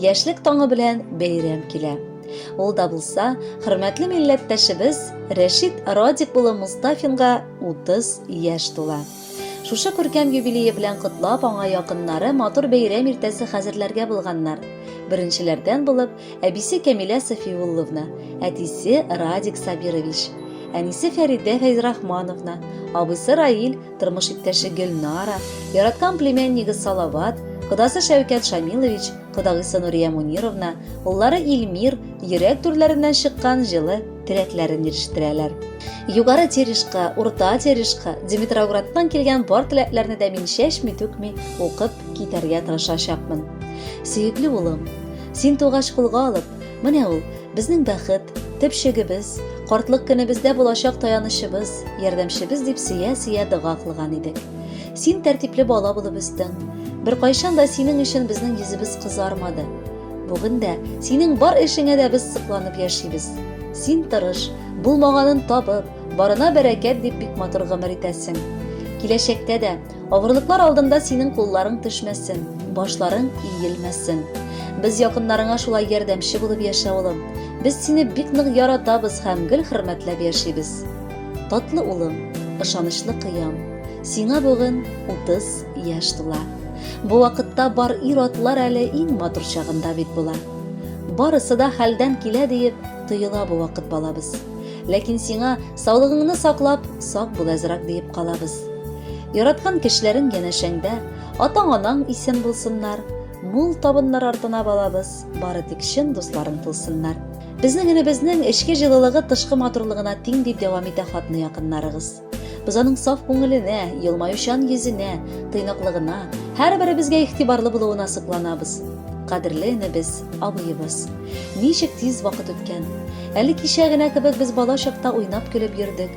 Яшьлек таңы белән бәйрәм килә. Ул да булса, хөрмәтле милләттәшебез Рәшит Радик улы Мустафинга 30 яшь тула. Шушы күркәм юбилее белән котлап, аңа якыннары матур бәйрәм иртәсе хәзерләргә булганнар. Беренчеләрдән булып, әбисе Кәмилә Сафиулловна, әтисе Радик Сабирович, әнисе Фәридә Фәйзрахмановна, абыйсы Раил тормыш иптәше Гөлнара, яраткан племяннигы Салават, кодасы Шәүкәт Шамилович, кодагыйсы Нурия Мунировна, уллары Илмир йөрәк түрләреннән чыккан җылы теләкләрен ирештерәләр. Югары Терешка, Урта Терешка, Димитроградтан килгән бар теләкләрне дә мин чәчми түкми укып китәргә тырышачакмын. Сөекле улым, син тугач кулга алып, Менә ул, безнең бәхет, төпчегебез, картлык көнебездә булачак таянычыбыз, ярдәмчебез, дип сөя-сөя дога кылган идек. Син тәртипле бала булып үстең. Беркайчан да синең өчен безнең йөзебез кызармады. Бүген дә синең бар эшеңә дә без сокланып яшибез. Син тырыш, булмаганын табып, барына бәрәкәт дип бик матур гомер итәсең. Киләчәктә дә Авырлыклар алдында синең кулларың төшмәсен, башларың иелмәсен. Без якыннарыңа шулай ярдәмче булып яшә, улым. Без сине бик нык яратабыз һәм гел хөрмәтләп яшибез. Татлы улым, ышанычлы кыям, сиңа бүген 30 яшь тула. Бу вакытта бар ир-атлар әле иң матур чагында бит була. Барысы да хәлдән килә диеп тоела бу вакыт балабыз. Ләкин сиңа саулыгыңны саклап, сак бул әзрак диеп калабыз. Яраткан кешеләрең янәшәңдә, атаң-анаң исән булсыннар, мул табыннар артына балабыз, бары тик чын дусларың булсыннар. Безнең энебезнең эчке җылылыгы тышкы матурлыгына тиң, дип дәвам итә хатны якыннарыгыз. Без аның саф күңеленә, елмаючан йөзенә, тыйнаклыгына, һәрберебезгә игътибарлы булуына сокланабыз. Кадерле энебез, абыебыз. Ничек тиз вакыт үткән! Әле кичә генә кебек без бала чакта уйнап-көлеп йөрдек,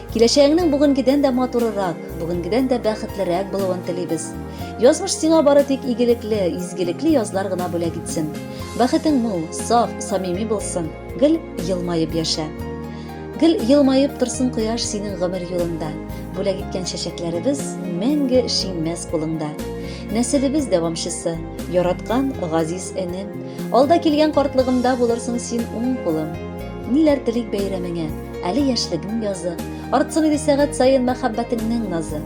Киләчәгеңнең бүгенгедән дә матурырак, бүгенгедән дә бәхетлерәк булуын телибез. Язмыш сиңа бары тик игелекле, изгелекле язлар гына бүләк итсен. Бәхетең мул, саф, самими булсын. Гел елмаеп яшә. Гел елмаеп торсын кояш синең гомер юлында. Бүләк иткән чәчәкләребез мәңге шиңмәс кулыңда. Нәселебез дәвамчысы, яраткан газиз энем. Алда килгән картлыгымда булырсың син уң кулым. Ниләр телик бәйрәмеңә, Әле яшьлегең язы, Артсын иде сәгать саен Мәхәббәтеңнең назы.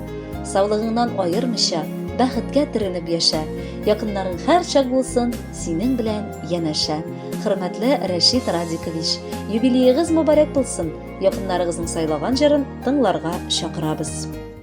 Саулыгыңнан аермыйча, Бәхеткә төренеп яшә, Якыннарың һәрчак булсын Синең белән янәшә. Хөрмәтле Рәшит Радикович! Юбилеегыз мөбарәк булсын! Якыннарыгызның сайлаган җырын тыңларга чакырабыз!